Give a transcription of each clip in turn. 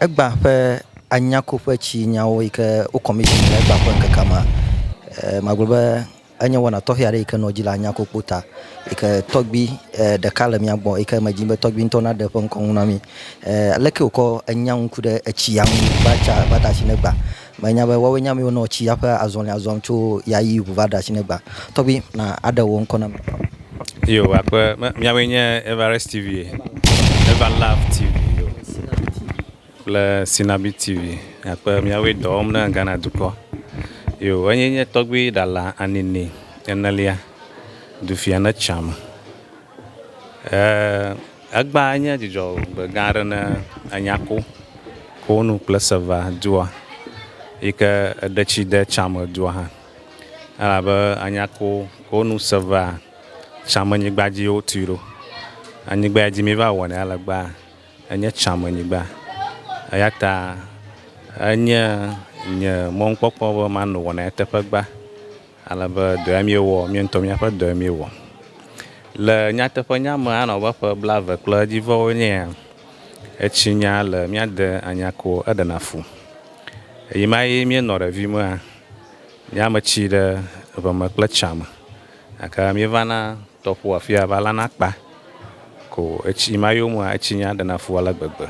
Egbã ƒe anyakoƒe tsi nyawo yi ke wo commission le egbã ƒe ŋkekea mea, eh, magblɔ be enye wɔna tɔxɛ aɖe yi ke nɔ dzi le anyakokpo ta yi ke tɔgbi eh, ɖeka le mía gbɔ yi ke me dzi be tɔgbi ŋutɔ naɖe eƒe ŋkɔ ŋu na mí. Eh, aleke wòkɔ enya ŋu ku ɖe etsia ŋu va tsa va da asi ne gbã Menya be woawoe nye amewo nɔ tsi ya ƒe azɔlia zɔm tso ya yi ŋu va ɖe asi negba. Tɔgbi, na aɖe wò ŋkɔ na mi. Yo akpe me miawoe nye Everest TV, Ever Love TV yo kple Sinabi TV akpe miawoe dɔ wɔm ne Ghana dukɔ. Yo enye nye tɔgbi Ɖala Anini enelia du fia ne tsã me. Egbea nye dzudzɔgbe gã aɖe ne ènya ko ko nu kple Sevaa dua yi ke eɖe tsi de tsãme dua hã elabe ènya ko ko nu Sevaa tsãmenyigba dzi ye wotui ɖo. Anyigba ya dzi míva wɔnɛ le egbea enye tsãmenyigba eya ta enye nye mɔnukpɔkpɔ be mano wɔna eteƒe gbea. Ale be dɔe míewɔ, mía ŋutɔ míaƒe dɔe míewɔ. Le nyateƒenya me anɔ abe ƒe blaeve kple edzivewo nyea, etsi nya le mía de anya ko eɖena fu. Ɣeyiɣi ma ɣi míenɔ ɖevi mea, mía me tsi ɖe ŋeme kple tsa me gake míeva na tɔƒo afia va lana akpa. Ko etsi ma yo mea, etsi nya ɖena fu ale gbegbe.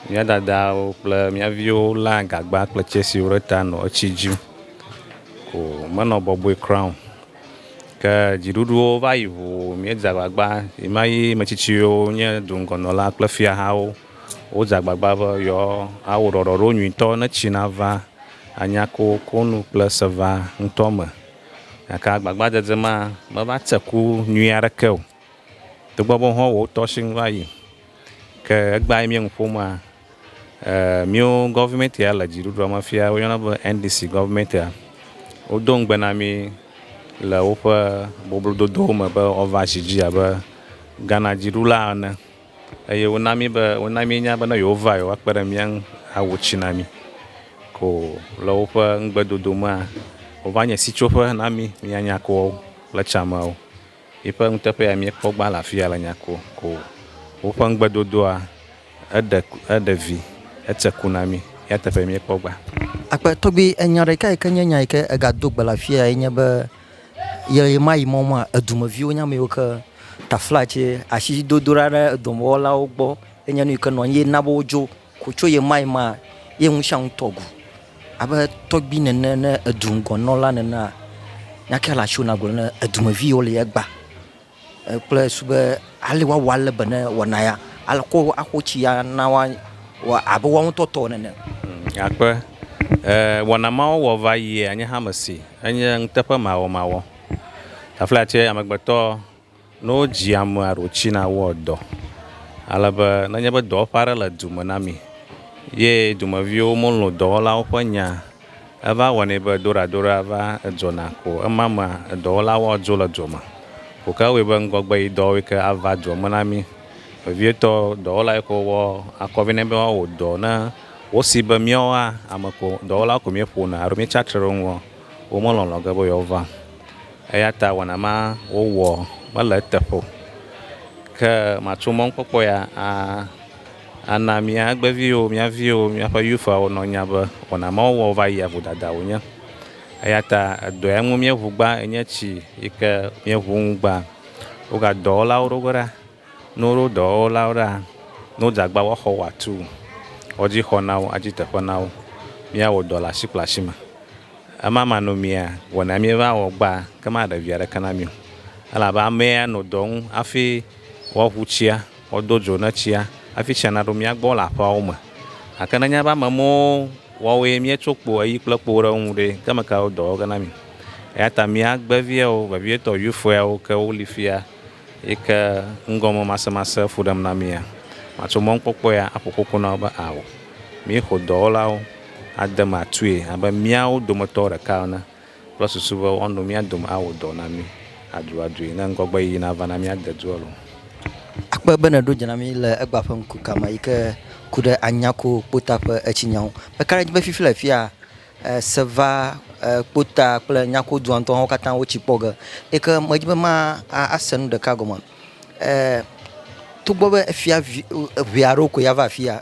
Mía dadawo kple mía viwo léa gagba kple tsɛsiwo ɖe ta nɔ etsi dzim. Ko menɔ bɔbɔe kura o. Ke dziɖuɖuwo va yi ŋu, míedze agbagba, yi ma yi ame tsitsiwo nye duŋgɔnɔla kple fiahawo wodze agbagba be yewoawɔ ɖɔɖɔɖo nyuitɔ ne tsi nava anya kokonu kple seva ŋutɔ me gake agbagbadzedze ma meva tse ku nyui aɖeke o, togbɔ be wohã wotɔ si ŋu va yi. Ke egbea yi mía nu ƒomea, e míwo gɔvimɛti ya le dziɖuɖua me fia woyɔna be NDC gɔvimɛtia, wodo ŋugbe na mí le woƒe boblododowo me be woava zi dzi abe Ghana dziɖula ene. eye wona mí be, wona míenya be ne yewova yewoakpe ɖe mía ŋu awu tsi na mí. Ko le woƒe ŋugbedodo mea, wova nye sitsoƒe na mí, mía nyakoawo kple tsãmeawo. Yiƒe nuteƒe ya míekpɔ gbã le afia le nyako. Ko woƒe ŋugbedodoa eɖe, eɖe vi, etse ku na mí. Eya teƒe míekpɔ gbã. Akpe tɔgbi enya ɖeka yi ke nye nya yi ke ega do gbe le afia ya ye nye be Le ɣemaɣi me ma, dumeviwo nye ame yiwo ke taflatse asidodoɖa ɖe dɔmewɔlawo gbɔ enye nu yi ke nɔ anyi ye na be wodzo ko tso ɣemaɣi ma ye ŋu sia ŋu tɔ ŋu abe tɔgbi nene ne edu ŋgɔ nɔla nenea, nya kae le asiwò ne nàgblɔ ne dumevi yiwo le egbea? kple su be ale woawɔ ale be ne wɔna ya alko axo tsi ya na woa wɔ abe woawo ŋutɔ tɔ nene. Akpe eh, wɔna mawo wɔ va yi anye hame si enye ŋuteƒe mawɔmawɔ. Tafla tse amegbetɔ ne wodzi ame aɖo tsi na wɔ dɔ. Ale be nenye be dɔwɔƒe aɖe le du me na mi ye dumeviwo melɔ̃ dɔwɔlawo ƒe nya Eva wɔnɛ be doɖadoɖa va edzɔna ko ema mea, edɔwɔla wɔa dzo le dɔ me. Ko ke ewɔe be ŋgɔgbe yi dɔwɔwɔe ke ava dzo me na mí. Vevietɔ, dɔwɔla yi ke wɔ akɔ vɛ nɛ be woawɔ dɔ ne wosi be míawoa ame ko dɔwɔla ko míeƒona alo míetsatre ɖe wo ŋua, womelɔ̃lɔ̃ ge be yewoava o. Eya ta wɔna ma wowɔ mele eteƒe o. Ke matso mɔnukpɔkpɔ ya a. Ana mía agbeviwo, mía viwo, míaƒe youthwawo nanya be wɔna mawo wɔm wova yia vodada wonye. Eyata edɔa ŋu míeŋu gbã enye tsi yike míeŋu nu gbã. Woga dɔwɔlawo ɖo ge ɖa. Ne woɖo dɔwɔlawo ɖa, ne wodze agba wɔa xɔ wɔatu, woadzi xɔ na wo, adzi teƒe na wo. Míawɔ dɔ le asi kple asi me. Ema ma nɔ mía wɔna míeva wɔ gbã ke maɖe via ɖeke na mí o. Elabe amea nɔ dɔ ŋu hafi woaŋu tsia. Wodo dzo ne tsia hafi tsia naɖo mía gbɔ le aƒeawo me. Gake ne nye ƒe ame mɔwo wɔwoe míetso kpo ɣeyiɣi kple kpowo ɖe wo ŋu ɖe, ke ame kae wo dɔ wɔ ge na mí? Eya ta mía gbe viawo, vevietɔ Eufoeawo ke woli fia yi ke ŋgɔme masemasee fu ɖem na mía. Matso mɔnukpɔkpɔ ya aƒo koko na wo be, Ao, míexo dɔwɔlawo ade eme atue abe míawo dometɔ ɖeka ene. Kple susu be woano mía dome awɔ dɔ na mí aduadue ne ŋgɔgbeyiyi nava na míade du alo. Akpe be nèɖo dze na mí le egbea ƒe ŋku kame yi ke ku ɖe Anyako kpota ƒe etsinya ŋu. Meka ɖe edzi be fifi le afia Seva kpota kple Nyako dua ŋutɔ hã wo katã wotsi kpɔ ge yi ke medi be ma ase nu ɖeka gɔme togbɔ be efia ŋee aɖewo koe ava afia.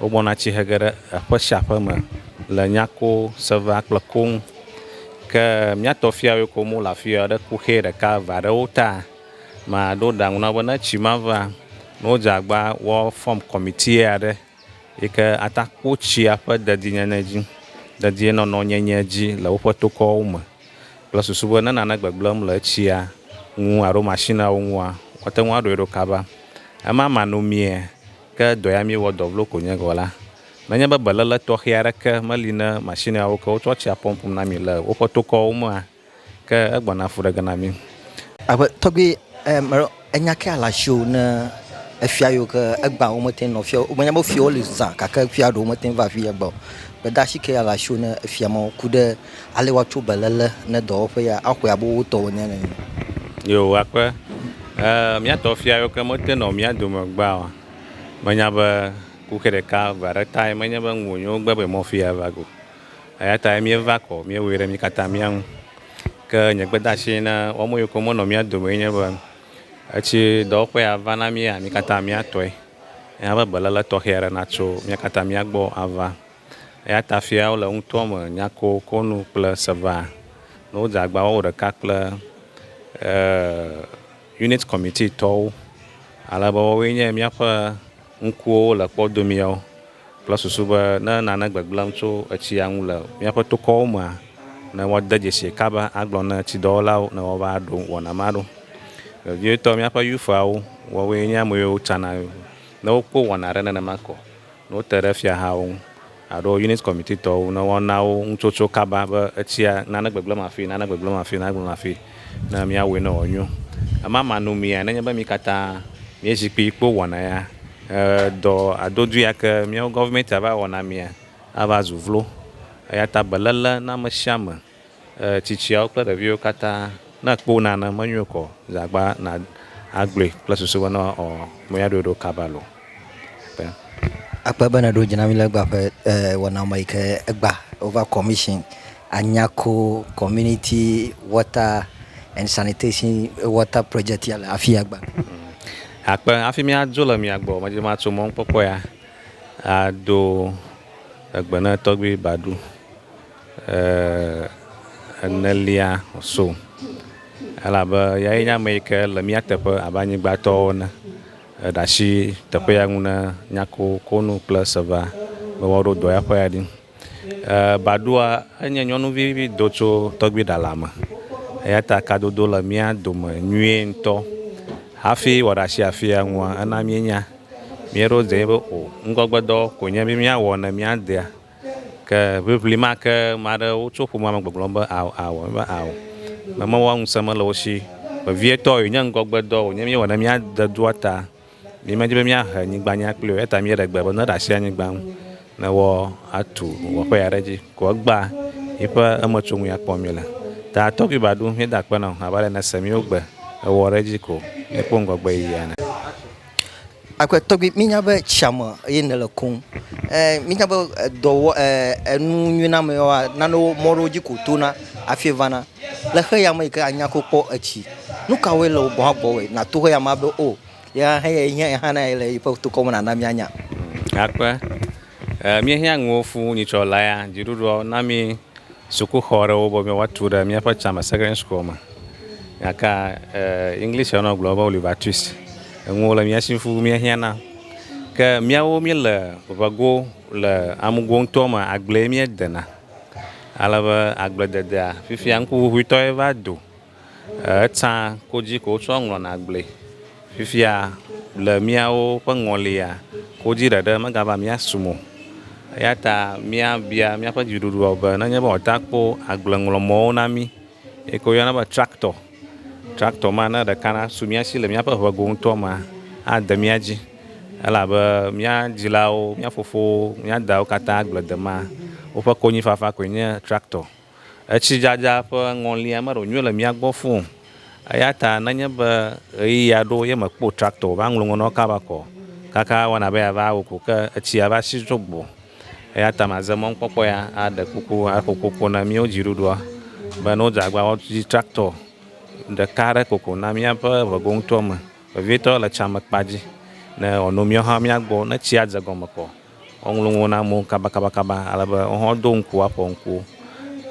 Wogbɔna tsihe ge ɖe aƒe sia aƒe me le nyako, sevea kple ko ŋu. Ke mía tɔ fiawoe ko mole afia ɖe kuxɛ ɖeka eve aɖewo ta. Maɖo ɖe aŋu na wo be ne tsi ma va, ne wodze agba woafɔm kɔmiti aɖe yi ke ata kpɔ tsia ƒe dedienyenye dzi, dedienɔnɔ nyenye dzi le woƒe tokɔwo me kple susu be ne nane gbegblẽm le etsia ŋu alo mashiniawo ŋua, woate ŋu aɖɔe ɖo kaba. Ema manɔmee. Ke dɔ ya míewɔ dɔ vlo ko nye gɔ̃ la, nenye be beléle tɔxɛ aɖeke meli ne mashineawo ke wotsɔ tsia pɔmpum na mi le woƒe tokɔwo mea, ke egbɔna fu ɖe ge na mí. Aƒe tɔgbi e melo enya ke ale asi o ne efia yiwo ke egbea wo mete nɔ fia o. Menye be fiawo li zã gake fia ɖewo mete va fia egbea o. Gbedasi ke ale asi o ne efia mawo ku ɖe Ale woatso beléle ne dɔwɔƒe ya axɔe abe wo tɔwo ene nɛ. Yoo, akpe. Ee, mía tɔ fia yiwo ke mete nɔ mía dome gbea o. Menya be kuxi ɖeka ʋe aɖe tae menye be ŋu wònyo gbe be mɔ fia va go. Eya tae míeva kɔ, míewɔe ɖe mí katã mía ŋu. Ke nye gbedeasi na woame yiwo ke menɔ mía dome enye be, etsi dɔwɔƒe ya va na míea, mí katã míatɔe. Ena be beléle tɔxɛ aɖe natso mía katã mía gbɔ ava. Eya ta fiawo le ŋutɔ me nyako konu kple seva ne wodze agba wɔwɔ ɖeka kple Unit Committee tɔwo, ale be woawoe nye míaƒe ŋkuwo le kpɔ domiawo kple susu be ne nane gbegblẽm tso etsia ŋu le míaƒe tokɔwo mea, ne woade dzesii kaba agblɔ na etsidɔwɔlawo ne woava ɖo wɔna ma ɖo. Vevietɔ, míaƒe youths'awo, woawoe nye ameyiwo tsana ne wokpɔ wɔna aɖe nenema ko. Ne wote ɖe fiahawo ŋu alo unit committee tɔwo ŋu ne woana wo nutsotso kaba be etsia nane gbegblẽm afii, nane gbegblẽm afii, nane gbegblẽm afii ne míawɔe ne wòanyo. Ema ma nu mía nenye be mí katã míedzi kpi kpo wɔna ya he dɔ adodui ake míawo gɔvimɛntia va wɔna mía ava zu vlo. Eyata beléle na ame sia ame. Ee, tsitsiawo kple ɖeviwo katã. Ne èkpɔ wo nane, menyo o kɔ ze agba na agblɔe kple susu be ne ɔ me ya ɖo ɖo kaba lo. Te. Akpe be nèɖo dzi na mí le egba ƒe ee wɔna me yi ke egba over commission anyako community water and sanitation water project ya le afia egba. Akpe hafi míadzo le mia gbɔ medzi be matso mɔnukpɔkpɔ ya ado egbe ne Tɔgbui Badu. Eer, enelia so, elabe Eyae nye ame yi ke le mía teƒe abe anyigbatɔwo ene, eɖe asi teƒea ŋu ne nyakokonu kple seva be woaɖo dɔ eƒe ya ɖi. Eer, Baɖoa, enye nyɔnuvi vi do tso tɔgbiɖala me, eya ta kadodo le mía dome nyuie ŋutɔ. Hafi wòaɖe asi afia ŋua, ena míenya, míeɖo dzee be o, ŋgɔgbedɔ koe nye be míawɔ ne míadea. Ke ʋiʋli ma ke ame aɖewo tso ƒomea me gbɔgblɔm be, Ao, ao, míeva ao. Ame mawoa ŋusẽ mele wo si. Vevietɔ wònye ŋgɔgbedɔ wònye míewɔ ne míade dua ta. Míemedi be míahe nyigba nya kpli o eya ta míeɖe gbe be neɖe asi anyigba ŋu ne woatu wɔƒe aɖe edzi ko egbea yiƒe emetsoŋui akpɔ míele. Ta tɔgbi ba ɖum míeda akpe na o abe ale yi nèse míwo gbe ewɔ ɖe edzi ko míekpɔ ŋgɔgbe yiyi ene. Akpe tɔgbi, mínya be tsia me ye nèle kum. Ɛɛ mínya be edɔwɔ ɛɛ enu nyui na ame yewoa, nanewo mɔ ɖewo dzi ko wotona hafi vana. Le xeya me yi ke anya ko kpɔ etsi. Nu kawoe le wò gbɔ hã gbɔwɔe nàto xeya mea be o, ye hã eyae nye ye hã na ye le yiƒe tokɔ me nàna míanya. Akpe, Ɛɛ, míehiã nuwo fũu nyitsɔ lea, dziɖuɖuɔ na mí sukuxɔ ɖewo be míwoatu ɖe míaƒe tsãme, secondary school, me. Gake ɛɛ, Englishia nɔ gblɔm be wole Baptist. Enuwo le mía shi fũu míehiã na. Ke míawo míele ŋego le amugo ŋutɔ me, agblee míedena. Ale be agblededea, fifia ŋkuʋuʋuitɔe va do. Etsã kodzi ko wotsɔ ŋlɔna agblee. Fifia le míawo ƒe ŋɔlia, kodzi ɖeɖe megava mía sum o. Eya ta míabia míaƒe dziɖuɖua be nenye be wòate ŋu akpɔ agbleŋlɔmɔ̃wo na mí yi ke woyɔna be traktɔ, traktɔ ma ne ɖeka nasu mía si le míaƒe ŋe go ŋutɔ mea, ade mía dzi elabe mía dzilawo, mía fofowo, mía dawo katã agble demea, woƒe konyifafa koe nye traktɔ. Etsidzadza ƒe ŋɔlia meɖo nyuie le mía gbɔ fũ o, eya ta nenye be ɣeyiɣia ɖo ye mèkpɔ traktor o, va ŋlɔ ŋɔnɔ kaba va kɔ kaka wɔna be yeava awu ko ke etsia va si tso gbo. Eya ta maze mɔnukpɔkpɔ ya aɖe kuku aƒo koko na míawo dziɖuɖua be ne wodze agbagba woadzi traktor ɖeka aɖe koko na míaƒe ŋego ŋutɔ me vevietɔ le tsã me kpa dzi ne wòano míawo hã mía gbɔ ne tsia dze gɔme kɔ. Woŋlɔ nuwo na amewo kabakabakaba ale be woawo hã wodo ŋku aƒo ŋku.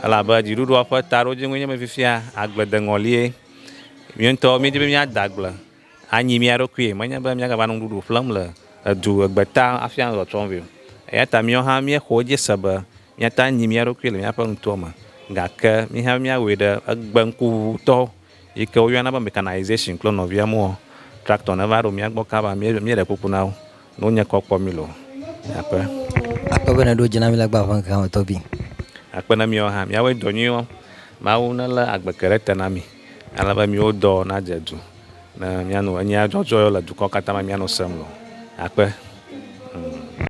Elabe dziɖuɖua ƒe taɖodzinue nye be fifia agble de ŋɔlie. Mía ŋutɔwo míedi be míade agble anyi mía ɖokui, menye be míagava nɔ nuɖuɖu ƒlem le edu egbeta hafi anɔ trɔtrɔm vɛ o. Eya ta míawo hã míexɔ edzi se be míate ŋu anyi mía ɖokui le míaƒe nutoa me gake mí hã míawɔe ɖe egbe ŋkuŋuŋutɔ yi ke woyɔna be mechanization kple nɔvia moɔ, tractor neva ɖo mía gbɔ kaba míeɖe kuku na wo. No nye kɔ kpɔ mi lo akpe. Akpe be nèɖo dzi na mí le agba ƒe ŋkeke me tɔgbi. Akpe na míawo hã míawɔe dɔ nyuiwo. Mawu nelé agbeke ɖe te na mí ale be míwo dɔ nadze du ne míano enyea dzɔdzɔewo le dukɔ katã me míano sem lo akpe.